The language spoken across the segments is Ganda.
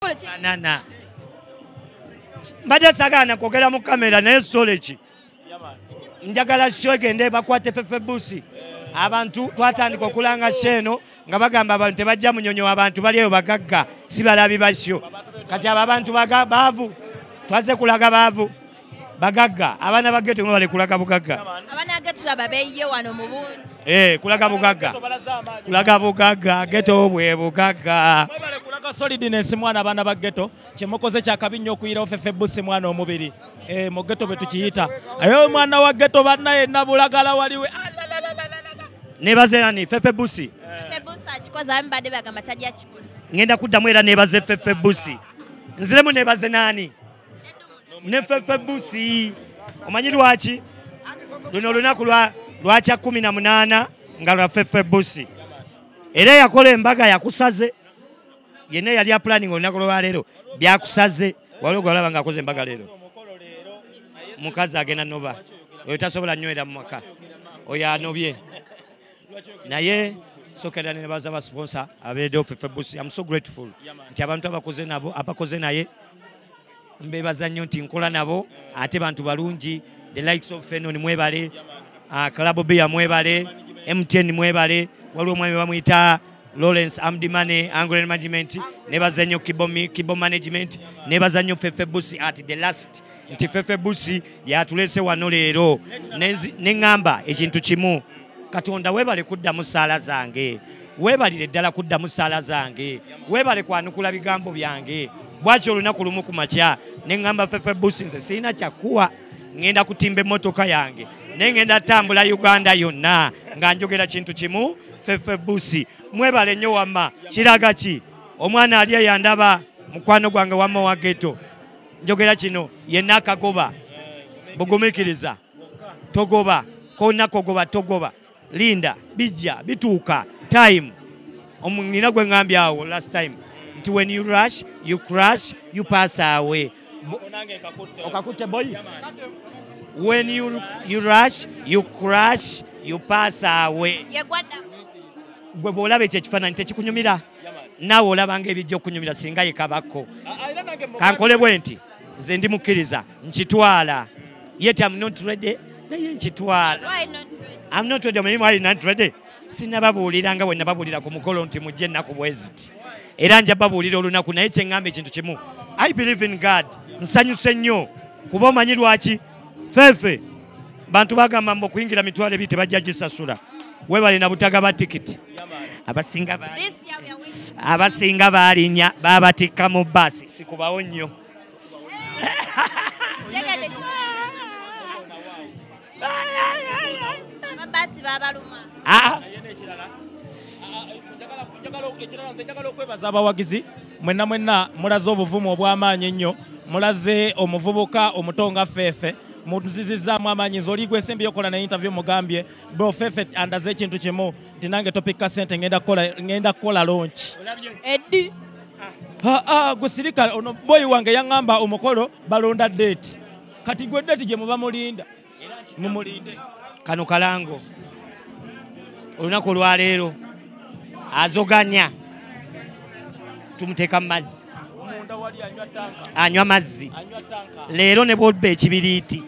banana mbadde sagaana kwogera mu kamera naye soleki njagala sho egende bakwate fefe busi abantu twatandika okulanga sho eno nga bagamba abantu tebajja munyonyo abantu bali eyo bagagga si balabi basyo kati abo abantu baavu twaze kulaga baavu bagagga abaana ba geto bali kulaga bugagga abaana geto tulaba beyiye wano mu bungi eh kulaga bugagga kulaga bugagga geto bwe bugagga mwebale kulaga solidness mwana abaana ba geto kyemukoze kyakabi nnyo okuyirawo fefe busi mwana omubiri eh mu geto bwe tukiyita ayo mwana wa geto banna yenna bulagala waliwe nebazerani fefe busi fefe busi akikoze abamu badde bagamba tajja kikula ngenda kuddamu era nebaze fefe busi nziremu nebaze naani ne fefe busi omanyi lwaki luno olunaku lwakya kumi na munaana nga lwa fefe busi era yakola embaga yakusaze yena yali apulaninga olunaku lwaleero byakusaze waliwo gwalaba nga akoze embaga leero mukazi agenda noba oyo tasobola nywera mu maka oyo anobye naye sokera ne baza ba sponsor abede of febusi i'm so grateful nti abantu abakoze nabo abakoze naye mbebaza nnyo nti nkola nabo ate bantu balungi the likes of fenon mwebale uh, club beer mwebale mtn mwebale waliwo omwami bamuyita Lawrence Amdimane Angren Management nebaza nnyo Kibo Management nebaza nnyo Fefe Busi at the last nti fefe busi yatulese wano leero ne ŋŋamba ekintu kimu katonda weebale kuddamu ssaala zange weebalire ddala kuddamu ssaala zange weebale kwanukula bigambo byange bwaki olunaku lumu ku makya ne ŋŋamba fefe busi nze sirina kyakuwa ŋŋenda kutimba emmotoka yange naye ŋŋenda tambula uganda yonna nga njogera kintu kimu fefe busi mwebale nnyo wamma kiraga ki omwana ali eyandaba mukwano gwange wamma wa geto njogera kino yenna akagoba bugumikiriza togoba konna kogoba togoba linda bijja bituuka time nina gwe ŋambye awo last time nti when you rush you crash you pass away okakutte boyi when you, you rush you crash you pass away gwe bwolaba ekyo ekifaananyi tekikunyumira naawe olabanga ebijja okunyumira singa yekabakko kankole bwe nti nze ndi mukkiriza nkitwala yet am not ready naye nkitwala am not ready omanyi mwali not ready sinababuulira nga bwe nababuulira ku mukolo nti mujje ennaku bweziti era nja babuulira olunaku naye kyeŋŋamba ekintu kimu i believe in god nsanyuse nnyo kuba omanyi lwaki fefe bantu bagamba mbu okuyingira mitwalo ebiri tebajja gisasula webale na butagaba tikiti abasinga abasinga baalinya babatikka mu baasi sikubawo nnyo ah. njagala okwebaza abawagizi mwenna mwenna mulaze obuvumu obw'amaanyi ennyo mulaze omuvubuka omuto nga feefe muzizizaamu amaanyi nze oli gwesembye okola na interview mugambye bro feefe andaze ekintu kimu nti nange topikka sente ngenda kukola lonki eddi ah, ah, gwesirika ono boyi wange yaŋŋamba omukolo balonda deeti kati gwe deeti gye muba mulinda mumulinde kano kalango olunaku olwaleero azoganya tumuteeka mu mazzi anywa mazzi leero ne bwobba ekibiriiti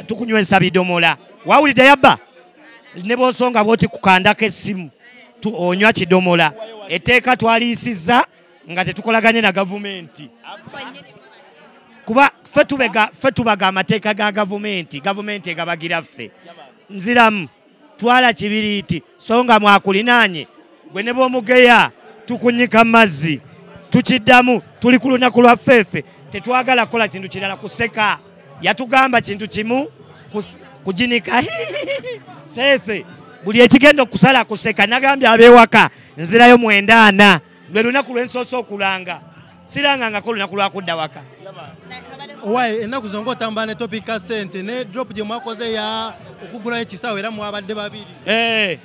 tukunywesa bidomola wawulidde yabba ne bwosonga bwoti kukandako essimu onywa kidomola etteeka twaliyisizza nga tetukolaganye na gavumenti kuba fe tubaga amateeka ga gavumenti gavumenti egabagira ffe nziramu twala kibiriiti so nga mwakulinaanye gwe ne bwomugeya tukunyika mazzi tukiddamu tuli ku lunaku lwa ffeefe tetwagala kukola kintu kirala kuseka yatugamba kintu kimu kujinika seefe buli ekigenda okusala kuseka nagambye abewaka nzirayo mwenda ana lwe lunaku lwensoose okulanga sirangangako olunaku lwakudda waka owaye ennaku zonga otambula ne topic ka sente ne drop gye mwakoze ya okugulayo ekisaawo era mwabadde babiri eh.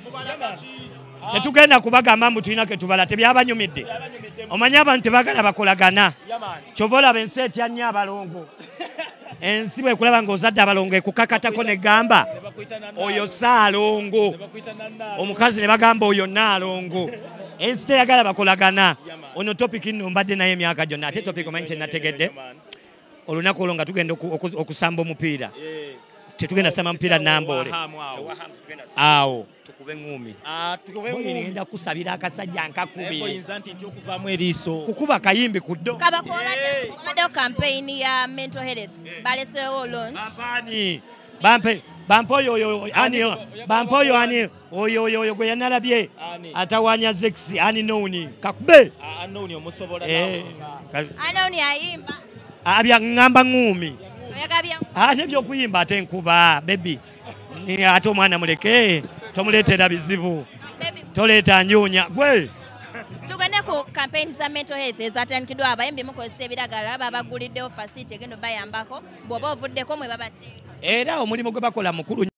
tetugenda kubagamba mbu tulina ketubala tebyabanyumidde omanyi abantu tebagala bakolagana kyova olaba ensi etya nnyo abalongo ensi bwekulaba nga ozadde abalongo ekukakatako negamba oyo saalongo omukazi ne bagamba oyo naalongo ensi teyagala bakolagana ono topic nno mbadde naye emyaka gyonna ate topic omanyi kyenategedde olunaku olwo nga tugenda okusamba omupiira tetugenda samba mupiira namboole awo tukube ngumi ah, tukube ngumi ngenda kusabira akasajja nkakubire oyinza nti nti okuvamu eriiso kukuba kayimbi ku ddo kaba eh. kubaddewo campaign ya mental health eh. baleseewo launch abaani bampe bampe oyo oyo ani bampe oyo ani oyo oyo oyo gwe yanalabye atawanya zex ani nowuni kakube ah, anowuni omusobola eh. anowuni ayimba abya ah, ngamba ngumi nebyokuyimba ate nkuba bebi ate omwana muleke tomuleetera bizibu toleeta njuunya gwe tugende ku campaign za mental health ezatandikiddwa abayimbi mukozesa ebiragala babaguliddewo fasiti egenda obayambako bwoba ovuddeko mwe babate era omulimu gwe bakola mukulu